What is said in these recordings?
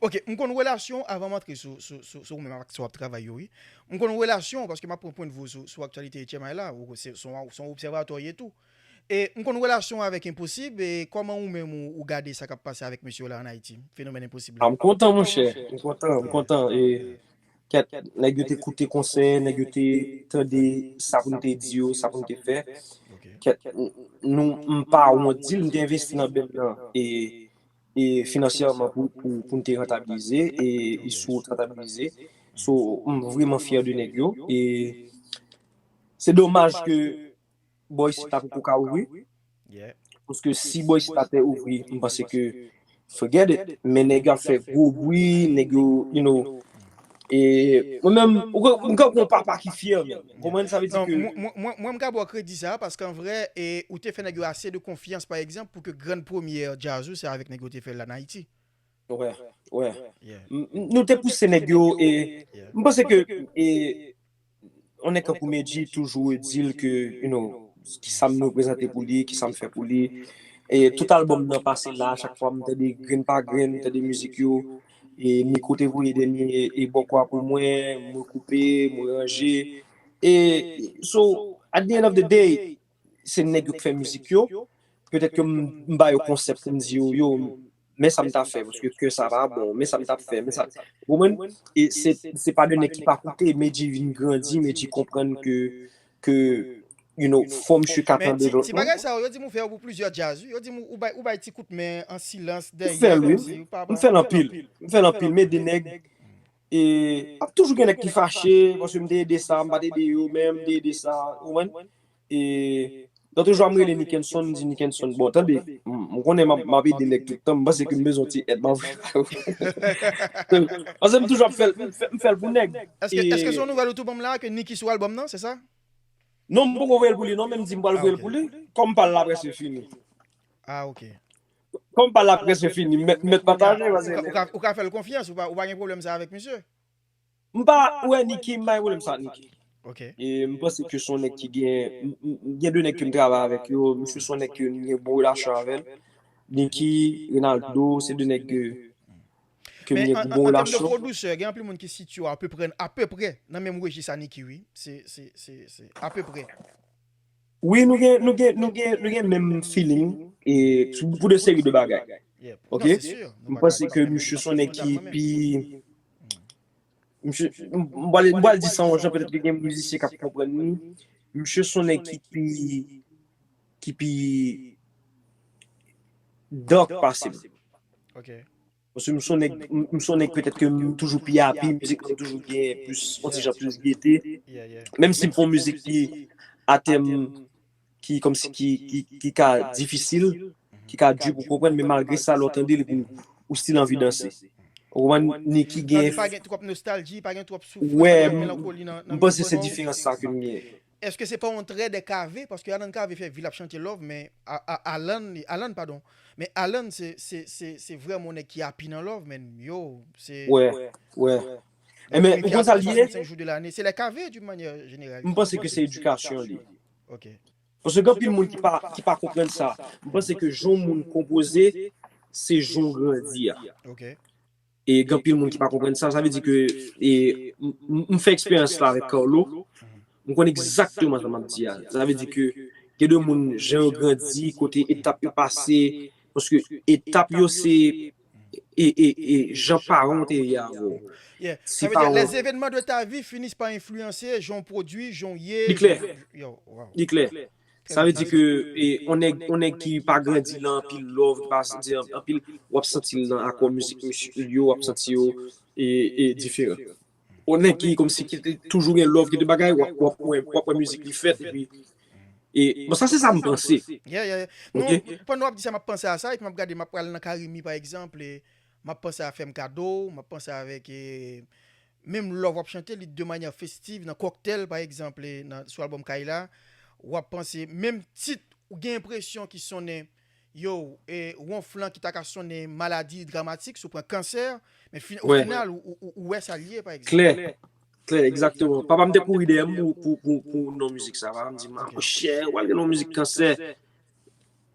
Ok, m konn relasyon avan m antre sou sou sou sou ou menm ak sa w ap travay yo wi. M konn relasyon paske m ap pran pwendvou w sou sou aktyalite etchemay la, ou se son w son obsèvatè w ye tou. E m konn relasyon w avèk enposib e kòman ou menm ou ou gade sa k ap pase avèk mesye w la an Ayiti, fenomèn enposib la? Ah m kontan monchè, m kontan, m kontan e kèt nèg yo te koute konsèy, nèg yo te tande sa pou n te di yo, sa pou n te fè. Kèt nou m pa wont di l m te envesti nan band lan e finansyèman pou n te rantabilize e sou rantabilize so m vreman fyè de nèg yo e se domaj ke bò isit la poko ka ouvri paske si bò isit la te ouvri m panse ke forget it men nèg yo ap fè gwo bwi nèg yo you know E mwen menm, ou ka, mwen ka pou yon papa ki fyè menm. Ou konprann sa vle di ke. Non, mwen, mwen, mwen m ka ba w kredi sa a, paske an vrè, e, ou te fè nèg yo ase de konfyans pa egzanp pou ke grann premyè djaz ou se avèk nèg yo ou te fè l la an Ayiti. Wè, wè. M, m, nou te pouse nèg yo e m panse ke e Yon nèg tankou Medjy toujou redil ke you know kisam nou reprezante pou li, kisam fè pou li. E tout album nan pase la, chak fwa m tande grenn pa grenn, m tande mizik yo. E Miko te voye dènye e bòkò a pou mwen, mwen koupe, mwen ranje. E so at the end of the day, Se nèg yo k fè mizik yo, petèt ke m ba yo konsèp pou m di yo, yo, men sa m ta fè, paske ke sa pa bon, men sa m t ap fè, men sa, ou konprann? E se, se pa de nèg ki pa koute, Medjy vin grandi, Medjy konprann ke, ke, you know, fò misye ka tande lòt moun. Men ti, ti bagay sa yo, yo di m ou fè yo pou plizyè djaz wi, yo di m ou bay, ou bay ti kout men an silans, dèyè, kòmsi ou pa, pa. M fè l anpil, m fè l anpil, m ede nèg, E ap toujou gen nèg ki fache paske m te ede sa, m pa t ede yo men m te ede sa, ou konprann? E nan toujou a m rele Nikenson, m di Nikenson, bon tande, m konnen m ap ede nèg tout tan, m panse ke m bezwen yon ti èd, m ap voye ba yo. Paske m toujou ap fè l, m fè l pou nèg. Eske se yon nouvèl ou tou ban m la a ke Niki sou albòm nan, se sa? Non, m poko voye l pou li non men m di m pral voye l pou li, kòm pa l la prèske fini. A ok. Kòm pale la prèske fini, mèt pataje paske li. Ou ka fèl konfyans, ou pa gen pwoblèm sa avèk misye. M pa wè Nicky, m pa gen pwoblèm sa ak Nicky. Ok. E m panse ke son nèg ki gen, gen 2 nèg ke m travay avèk yo, misye son nèg ke m gen bon relasyon avèl. Nicky, Renaldo, se 2 nèg ke m gen bon relasyon. Men an tèm de pwodusè, gen anpil moun ki sitye apeprè, apeprè nan menm rejis a Nicky wi. Se, se, se, se apeprè. Wi nou gen nou gen nou gen nou gen menm feeling e pou de seri de bagay ok m panse ke misye son nèg ki pi misye m pral di sa yon jan petèt ke gen mizisyen kap konprann ni misye son nèg ki pi ki pi dark pase m ok. Paske m son nèg, m son nèg petèt ke m toujou pi api, mizik mwen toujou gen plis, on ti jan plis gete. Menm si m fon mizik ki a tèm ki kòm si ki ka difisil, ki ka di pou konprann, men malgre sa lè w tande l epi ou stil anvi danse. Ou konprann? Nicky gen. Sa vle di pa gen twòp nostalji, pa gen twòp soufrans, pa gen twòp melankoli nan mizik mwen non? Wè, m panse se diferans sa ke m gen. Eske se pa yon trè de kave paske alan kave fè vil ap chante love men alan padon men alan se se se se vrèman yon nèg ki api nan love men yoo se wè wè ebyen ou konn sa li ye se lè kave d'une manyè jeneral m panse ke se edikasyon li ok paske gen anpil moun ki pa ki pa konprann sa m panse ke jan yon moun konpoze se jan w grandi a ok. E gen anpil moun ki pa konprann sa. Sa vle di ke m fè eksperyans la avèk Carlo. M konn egzakteman sa m ap di a. Sa vle di ke gen de moun jan yo grandi, kote etap yo pase. Paske etap yo se jan paran w te ye avè w. Sa vle di les événements de ta vie finissent par influencer jan w pwodui, jan w ye. Li klè. Li klè. Sa vle di ke yon nèg ki pa grandi lan anpil love, ki pa santi anpil, wap santi lan akò mizik misye yo, wap santi yo e diferan. Yon nèg ki komsi ki te toujou gen love, ki te bagay, wap wè mizik li fèt epi e bon sa se sa m panse. Yeah yeah yeah. Non, pandan wap di sa map panse a sa epi map gade map pral lan carimi pa egzanp e map panse a fèm kado, map panse avèk e Menm lò w ap chante li de manyè festiv nan Cocktail pa egzanp nan sou albòm Kay la, w ap panse menm tit ou gen enpresyon ki sonnen yow e wonflan ki ta ka sonnen maladi dramatik si w pran kansè men fin ofinal ou wè sa l ye pa egzanp. Klè, klè egzakteman. Papa m te kouri dèyè m pou non mizik sa. Papa m di m, Monchè, w al gen yon mizik kansè.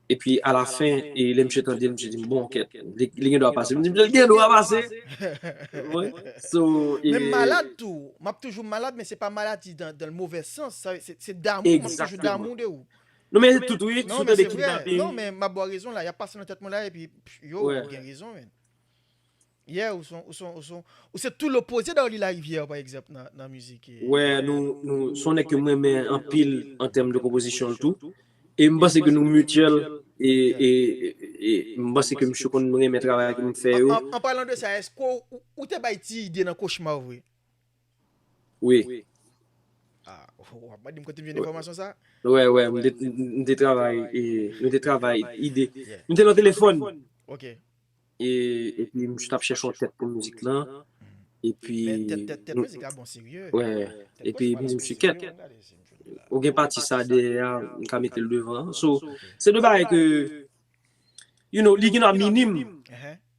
Epi a la fen, e lè misye tande l, misye di m, bon, kèt, li gen dwa pase. M di misye, li gen dwa pase! Menm malad tou, m ap toujou malad, men se pa maladi dan l movè sans, se damou, m ap toujou damou de ou. Non men se tout wi, si w tande kidnaping. Non men se vre, non men m ap ba w rezon la, y ap pase nan tèt mwen la epi, yo, ou gen rezon men. Yeah ou son ou son ou son ou se tou lopoze Darly Lariviere pa egzanp nan nan mizik. Wè nou nou son nèg ke m renmen anpil an tèm de konpozisyon l tou e m panse ke nou mutuel e e e m panse ke misye konn renmen travay ke m fè yo. An palan de sa eske ou te bay ti ide nan kochma w vre? Wi. Ah ou ap mande m kote m jwenn enfòmasyon sa? Wè wè m te travay e m te travay ide m te nan telefòn. Ok. Epi m tap chèche yon tèt pou mizik lan epi epi m di misye kèt ou gen pati sa dèyè a m ka metel devan an so se de bagay ke you know li gen dwa minim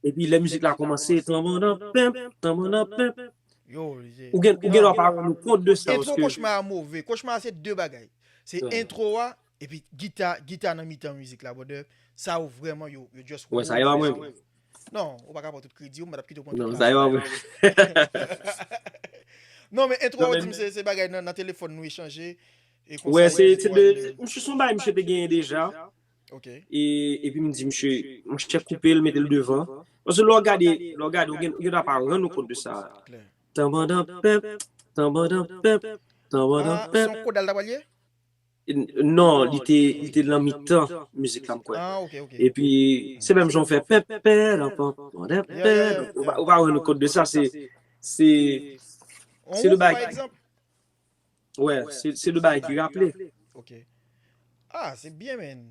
epi lè mizik la kòmanse tanbanda penp tanbanda penp ou gen dwa pa rann ou kont de sa paske. Entwo kochma a move kochma a se de bagay se entwo a Epi gita gita nan mitan mizik la brother sa yo vrèman yo yo just Wè sa yo an mwen. Non, ou pa ka pran tout kredi yo, mwen pa tap kite ou pran tout kredi. Non, sa yo an mwen. Non men entro an dim se bagay nan telefòn nou echanje e konsa. Wè se se de msye son bagay msye te genyen deja. Ok. E epi m di msye, msye koupe l mete l devan. Paske lè w gade, lè w gade ou gen ou ta pa rann ou kont de sa. Klè. Tanbandanpèp, tanbandanpèp, tanbandanpèp. Ah, son kodal ta pral ye? Non li te li te lan mitan mizik la m kwè Ah ok ok epi se menm jan w fè pèpèranpan pandan Yeah, yeah, yeah. pè ou pa rann ou kont de sa se se On Se le ouf bagay- pa egzanp wè se se le bagay ki raple Ok Ah se byen men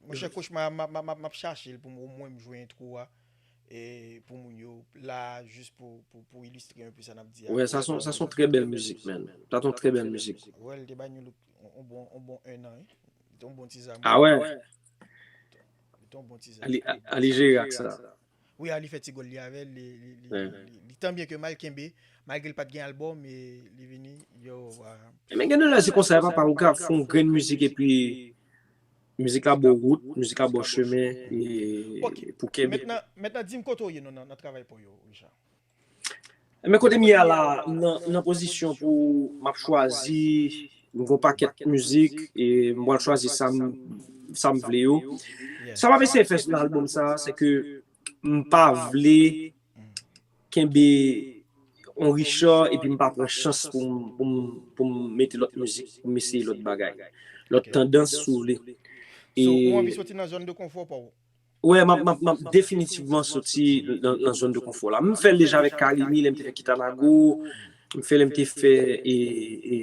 Monchè kochma a m ap m ap chache l pou m omwen m jwe entwo a. Pou moun yo la jis pou ilistre anpe sa nap di a. Wè sa son sa son trè bèl mizik menn. Sa son trè bèl mizik. Wè li te bay Nu-look on bon on bon 1 an wi. Li te on bon ti zam. A wè. Li te on bon ti zam. Ali Ali jere ak sa. Wi Ali fè ti gòl li avèl li li tan byen ke mal kenbe malgre li pat gen album e li vini yo. Men gen de lè se konsa e papa ou ka fon grenn mizik epi. Mizik la bo wout, mizik la bo chemen pou kenbe. Mentnan dim kote ou ye non nan travay paw yo Richard? Ebyen kotem ye a la nan pozisyon pou map chwazi m gen yon pakèt mizik e m pral chwazi sam vle yo. Sa map eseye fè nan album sa se ke m pa vle kenbe on Richard epi m pa pran chans pou m pou m pou m mete lòt mizik pou m eseye lòt bagay lòt tandans si w vle So ou anvi soti nan zòn de konfò pa w? Wè m ap m ap m ap definitivman soti nan nan zòn de konfò la m fè l deja avèk Carimi lè m te fè Kitanago m fè lè m te fè e e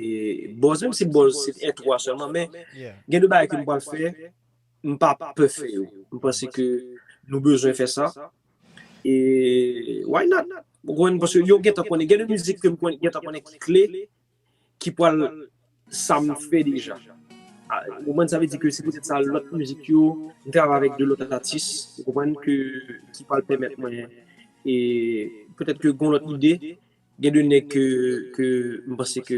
Bòz menm si Bòz se te entwo a sèlman men gen de bagay ke m pral fè m pa pè fè yo m panse ke nou bezwen fè sa E why not? Ou konprann? Paske yo gentan konnen. Gen de mizik ke m konnen gentan konnen ki kle, ki pral sa m fè deja. Ou konprann? Sa vle di ke se poutèt sa lòt mizik yo, m travay avèk de lòt atis, ou konprann, ke ki pral pèmèt mwen e poutèt ke gon lòt ide. Gen de nèg ke, ke m panse ke,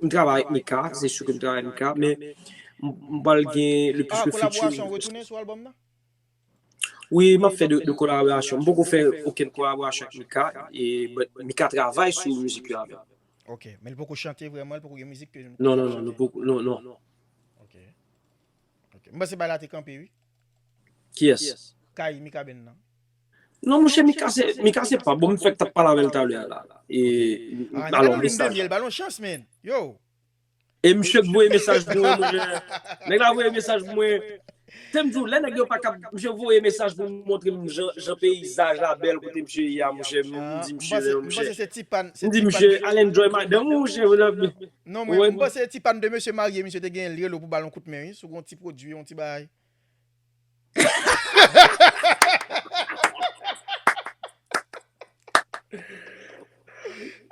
m travay avèk Mika, se su ke m travay avèk Mika, men m pral gen le plis de featuring. Kolaborasyon retounen sou albòm nan? Wi map fè de kolaborasyon. M poko fè okenn kolaborasyon ak Mika but Mika travay sou mizik yo avèm. Ok, men li poko chante vrèman, li poko gen mizik ke nou ka chante? Non, non, non. Ok, ok. M panse bagay la te kanpe wi. Kiyès? Kay Mikaben nan. Non monchè Mika se, Mika se pa bon, m fèk tap pale avèl talè a la. E, alon mesaj la. Gade yon limbe myèl, ba l yon chans man. Yow! E misye k voye mesaj pou mwen mon chè. Nèg la voye mesaj pou mwen. Se m di w lè nèg yo pa kab misye voye mesaj pou montre m jan peyizaj la bèl kote misye ye a mon chè m di misye men mon chè m di misye al enjoy madanm ou mon chè ou nan Non mwen panse se ti pann de mesye marye misye te genyen l rele w pou ba l yon kout men wi sou gon ti pwodui yon ti bagay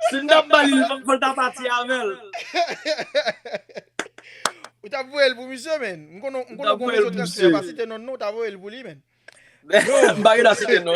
Si m tap bali l fòk l ta pati avè l. Ou tap voye l pou misye menn. M konnen ou gon rezo transfè pa site non non ou ta voye l pou li menn. M pa gen dwa site non.